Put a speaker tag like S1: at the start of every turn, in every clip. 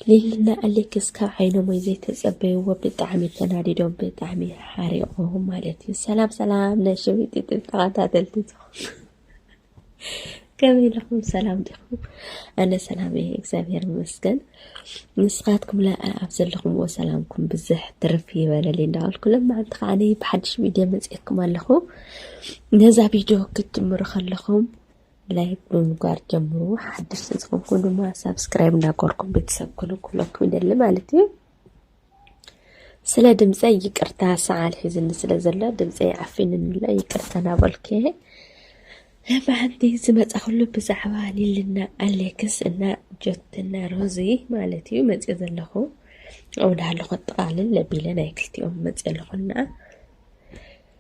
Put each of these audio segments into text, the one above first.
S1: ሊሊና ኣሌክስ ካብ ዓይኖሞይ ዘይተጸበይዎ ብጣዕሚ ተናዲዶም ብጣዕሚ ሓሪቆም ማለት እዩ። ሰላም ሰላም ናይ ሸዊት ጥብ ተኸታተልቲ ዝኾኑ ከመይ ኢለኹም ሰላም ዲኹም? ኣነ ሰላም እየ እግዚኣብሔር ይመስገን። ንስኻትኩም ኣብ ዘለኹምዎ ሰላምኩም ብዝሕ ትርፍ ይበለል እንዳበልኩ ለማዓንቲ ከዓ ብሓድሽ ቪድዮ መፅኤኩም ኣለኹ። ነዛ ቪድዮ ክትጅምሩ ከለኹም ላይክ ብምግባር ጀምሩ። ሓድሽ ዝዝኾንኩም ድማ ሳብስክራይብ እንዳገርኩም ቤተሰብ ኩኑ ኩለኩም ይደሊ ማለት እዩ። ስለ ድምፀይ ይቅርታ ሰዓል ሒዝኒ ስለ ዘሎ ድምፀይ ዓፊንንለ ይቅርታ ናበልኩ ለባሓንቲ ዝመፀኹሉ ብዛዕባ ሊልና ኣሌክስ እና ጆትና ሮዚ ማለት እዩ መፅኦ ዘለኹ ኣብኡ ዳሃለኹ ኣጠቃልል ለቢለ ናይ ክልቲኦም መፅኦ ኣለኹና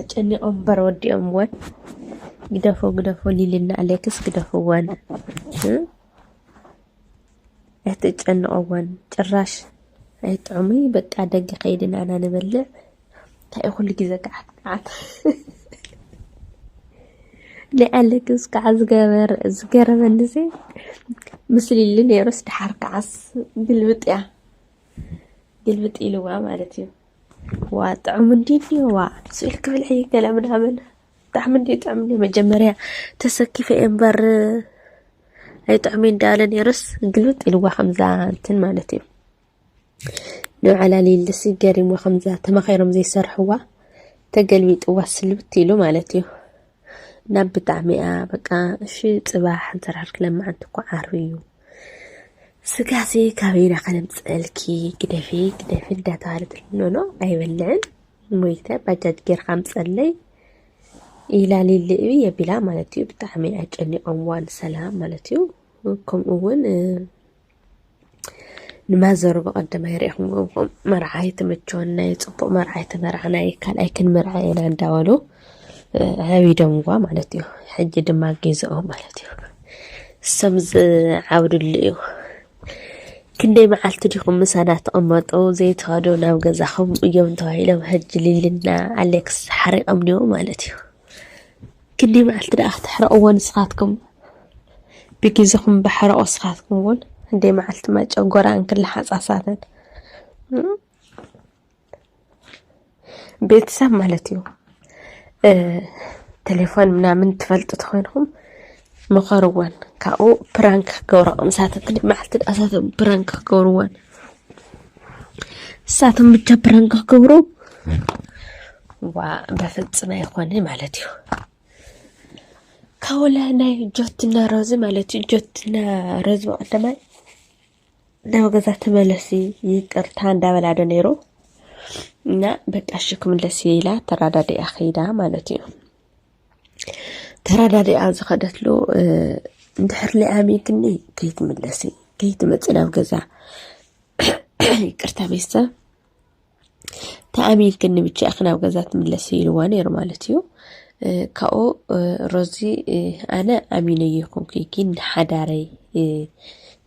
S1: ኣጨኒቆም እምበር ወዲኦምወን ግደፎ ግደፎ ሊልና ኣሌክስ ግደፍወን ኣይትጨንቀወን ጭራሽ ኣይጥዑሙይ በቃ ደገ ከይድና ኢና ንበልዕ እንታይ ኩሉ ግዜ ከዓት ከዓት ናይ ኣሌክስ ከዓ ዝገበር ዝገረመኒ ዘ ምስ ሊሊ ነይሩስ ድሓር ከዓስ ግልብጥ እያ ግልብጥ ኢልዋ ማለት እዩ ዋ ጥዑም እንዲ ዋ ስኢል ክብል ሕይ ገለ ምናምን ብጣዕሚ እንዲ ጥዑም እንዲ መጀመርያ ተሰኪፈ እየ እምበር ኣይጥዑም እንዳለ ነይሩስ ግልብጥ ኢልዋ ከምዛ እንትን ማለት እዩ ንባዕላ ሊልሲ ገሪሞ ከምዛ ተማኺሮም ዘይሰርሕዋ ተገልቢጥዋ ስልብት ኢሉ ማለት እዩ ናብ ብጣዕሚ እያ በቃ እሺ ፅባሕ እንሰራሕል ክለማዓንቲ እኮ ዓርቢ እዩ ስጋሲ ካበይና ከነምፅእልኪ ግደፊ ግደፊ እንዳተባሃለ ትልምኖ ኣይበልዕን ሞይተ ባጃጅ ጌርካ ምፀለይ ኢላ ሊልእዩ የቢላ ማለት እዩ ብጣዕሚ ኣጨኒቆምዋ ንሰላም ማለት እዩ ከምኡ እውን ንማዘሩ ብቐደም ኣይርኢኹምዎም ኹም መርዓ ኣይተመቸወና እዩ ፅቡቕ መርዓ ኣይተመርዓና እዩ ካልኣይ ክንምርዓ ኢና እንዳበሉ ዓቢዶምዋ ማለት እዩ ሕጂ ድማ ጌዘኦ ማለት እዩ ሰም ዝዓብድሉ እዩ ክንደይ መዓልቲ ዲኹም ምሳና ተቐመጡ ዘይተኸዱ ናብ ገዛኹም እዮም ተባሂሎም ሕጂ ሊልና ኣሌክስ ሓሪቐም ኒዎ ማለት እዩ ክንደይ መዓልቲ ደኣ ክተሕርቕዎ ንስኻትኩም ብግዜኹም ባሕርቑ ንስኻትኩም እውን ክንደይ መዓልቲ ማጨው ጎራን ክለሓፃ ሳተን ቤተሰብ ማለት እዩ ቴሌፎን ምናምን ትፈልጡ ተኾይንኹም መኸርወን ካብኡ ፕራንክ ክገብራ ከምሳተ ክልእ መዓልቲ ድኣ ሳቶም ፕራንክ ክገብርወን እሳቶም ብቻ ፕራንክ ክገብሩ ዋ በፍፅም ኣይኮነ ማለት እዩ ካውላ ናይ ጆትና ሮዚ ማለት እዩ ጆትና ሮዚ በቀደማይ ናብ ገዛ ተመለሲ ይቅርታ እንዳበላዶ ነይሩ እና በቃ እሺ ክምለስ ኢላ ተራዳዲኣ ከይዳ ማለት እዩ ተረዳዲኣ ዝኸደትሉ እንድሕር ሊኣሚትኒ ከይትምለሲ ከይትመፅእ ናብ ገዛ ይቅርታ ቤተሰብ ተኣሚልክኒ ብቻ ናብ ገዛ ትምለሲ ኢልዋ ነይሩ ማለት እዩ ካብኡ ሮዚ ኣነ ኣሚነ ይኹንኩ ግን ሓዳረይ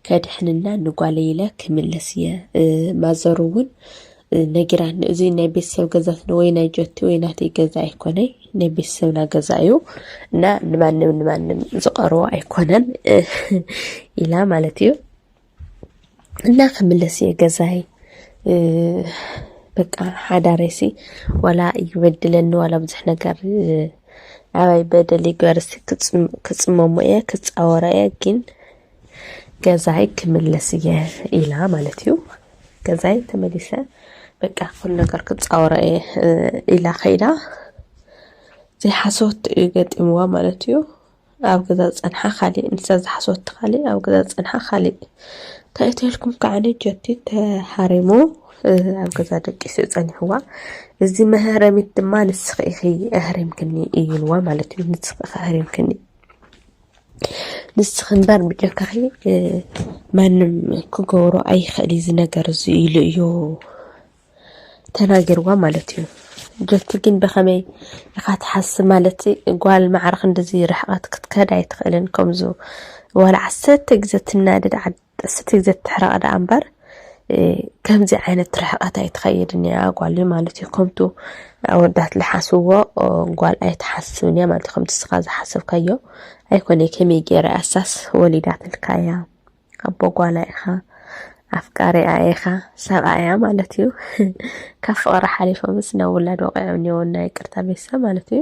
S1: ከድሕንና ንጓለይ ኢለ ክምለስ እየ ማዘሩ እውን ነጊራኒ እዚ ናይ ቤተሰብ ገዛ ስለ ወይ ናይ ጆቲ ወይ ናተይ ገዛ ኣይኮነይ ናይ ቤተሰብና ገዛ እዩ እና ንማንም ንማንም ዝቐርቦ ኣይኮነን ኢላ ማለት እዩ እና ክምለስ እየ ገዛይ በቃ ሓዳረይሲ ዋላ ይበድለኒ ዋላ ብዙሕ ነገር ኣባይ በደል ይግበርሲ ክፅመሞ እየ ክፃወራ እየ ግን ገዛይ ክምለስ እየ ኢላ ማለት እዩ ገዛይ ተመሊሰ በቃ ኩሉ ነገር ክፃወሮ እየ ኢላ ከይዳ ዘይሓሰወት እዩ ገጢምዋ ማለት እዩ ኣብ ገዛ ዝፀንሓ ካሊእ ንሳ ዝሓሰወቲ ካሊእ ኣብ ገዛ ዝፀንሓ ካሊእ እንታይ እትልኩም ከዓኒ ጀቲ ተሃሪሙ ኣብ ገዛ ደቂሱ ፀኒሕዋ እዚ መህረሚት ድማ ንስኺ ኢኺ ኣህሪምክኒ እዩልዋ ማለት እዩ ንስኺ ኢኺ ኣህሪምክኒ ንስኺ እምበር ብጀካኺ ማንም ክገብሮ ኣይኽእል እዩ ዝነገር እዚ ኢሉ እዩ ተናጊርዋ ማለት እዩ ጀቲ ግን ብኸመይ ኢኻ ትሓስብ ማለት ጓል ማዕርኽ እንደዚ ርሕቐት ክትከድ ኣይትኽእልን ከምዚ ዋላ ዓሰርተ ግዘ ትናደድ ጥስቲ ዘትሕረቀ ደኣ እምበር ከምዚ ዓይነት ርሕቀት ኣይትኸይድን እያ ጓል ማለት እዩ ከምቱ ኣወዳት ልሓስዎ ጓል ኣይትሓስብን እያ ማለት ከምቲ ስኻ ዝሓሰብካዮ ኣይኮነ ከመይ ገይረ ኣሳስ ወሊዳትልካ እያ ኣቦ ጓላ ኢኻ ኣፍቃሪኣ ኢኻ ሰብኣያ ማለት እዩ ካብ ፍቕሪ ሓሊፎምስ ናብ ውላድ ወቂዖም እኒኦ ናይ ቅርታ ቤተሰብ ማለት እዩ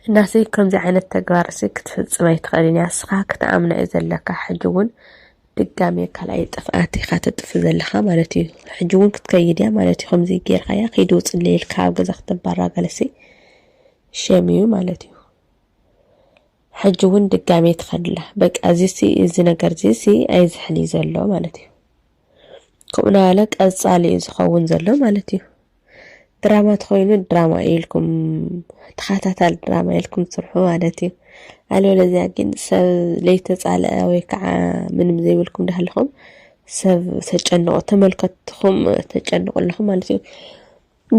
S1: እናሲ ከምዚ ዓይነት ተግባርሲ ክትፍጽም ኣይትኽእልን እያ እስኻ ክትኣምና እዩ ዘለካ ሕጂ እውን ድጋሜ ካልኣይ ጥፍኣት ኢኻ ተጥፍ ዘለኻ ማለት እዩ ሕጂ እውን ክትከይድ እያ ማለት እዩ ከምዚ ጌርካ እያ ከይዲ ውፅለ ኢልካ ኣብ ገዛ ክትባራ ገለሲ ሸም እዩ ማለት እዩ ሕጂ እውን ድጋሜ ትኸድላ በቃ እዚሲ እዚ ነገር እዚሲ ኣይዝሕል እዩ ዘሎ ማለት እዩ ከምኡ ናበለ ቀጻሊ እዩ ዝኸውን ዘሎ ማለት እዩ። ድራማ ተኾይኑ ድራማ ኢልኩም ተኸታታሊ ድራማ ኢልኩም ስርሑ ማለት እዩ። ኣለበለዚያ ግን ሰብ ለይተጻልአ ወይ ከዓ ምንም ዘይብልኩም ዳሃለኹም ሰብ ተጨንቑ ተመልከትኹም ተጨንቑ ኣለኹም ማለት እዩ።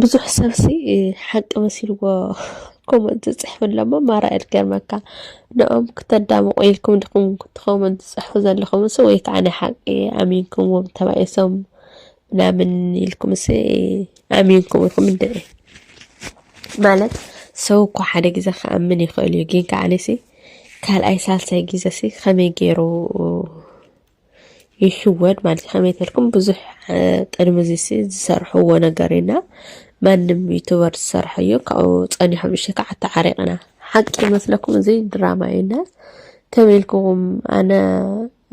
S1: ብዙሕ ሰብሲ ሓቂ መሲልዎ ኮመንት ዝፅሕፍ ኣለሞ ማራ እየ ዝገርመካ ንኦም ክተዳምቑ ኢልኩም ድኹም ክትኾመንት ዝፅሕፉ ዘለኹምስ ወይ ከዓ ናይ ሓቂ ኣሚንኩምዎም ተባኢሶም ምናምን ኢልኩምስ ኣሚንኩም ኢኹም እንድዒ ማለት ሰው እኮ ሓደ ግዜ ክኣምን ይኽእል እዩ ግን ከዓኒሲ ካልኣይ ሳልሳይ ግዜሲ ከመይ ገይሩ ይሽወድ ማለት እዩ ከመይ ተልኩም ብዙሕ ቅድሚ እዚሲ ዝሰርሕዎ ነገር ኢና ማንም ዩቱበር ዝሰርሖ እዩ ካብኡ ፀኒሖም እሺ ከዓ ተዓሪቕና ሓቂ ይመስለኩም እዚ ድራማ እዩና ከመይ ኢልኩም ኣነ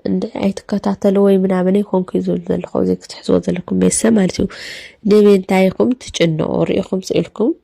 S1: እንደ ኣይትከታተሉ ወይ ምናምን ይኮንኩ ዝብል ዘለኹ እዚ ክትሕዝዎ ዘለኩም ቤተሰብ ማለት እዩ ንምንታይ ኢኹም ትጭንቑ ርኢኹም ስኢልኩም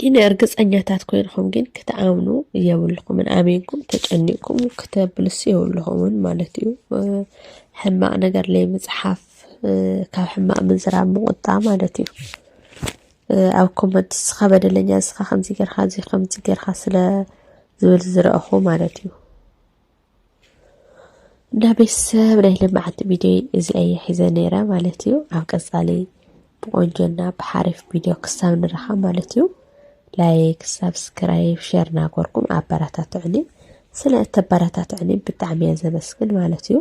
S1: ግን እርግጸኛታት ኮይንኹም ግን ክትኣምኑ የብልኹምን ኣሜንኩም ተጨኒቕኩም ክተብልሱ የብልኹምን ማለት እዩ ሕማቕ ነገር ለይ ምጽሓፍ ካብ ሕማቕ ምዝራብ ምቑጣ ማለት እዩ ኣብ ኮመንት ንስኻ በደለኛ ንስኻ ከምዚ ጌርካ እዚ ከምዚ ጌርካ ስለ ዝብል ዝረእኹ ማለት እዩ እና ቤተሰብ ናይ ልምዓት ቪድዮ እዚኣ እየ ሒዘ ነይረ ማለት እዩ ኣብ ቀፃሊ ብቆንጆና ብሓሪፍ ቪድዮ ክሳብ ንረኻብ ማለት እዩ ላይክ ሳብስክራይብ ሸር ናጎርኩም ኣበረታትዕኒ ስለ እተበረታትዕኒ ብጣዕሚ እየ ዘመስግን ማለት እዩ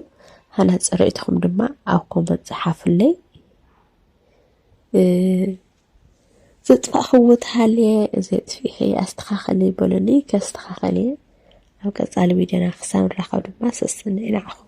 S1: ሃናፂ ርእይትኹም ድማ ኣብ ኮመንት ፀሓፍለይ ዘጥፋእክዎ ተሃልየ እዚ ኣጥፊኢኺ ኣስተኻኽሊ በሉኒ ከስተኻኽል እየ። ኣብ ቀጻሊ ቪድዮና ክሳብ ንራኸብ ድማ ሰስን'የ ንዓኹም።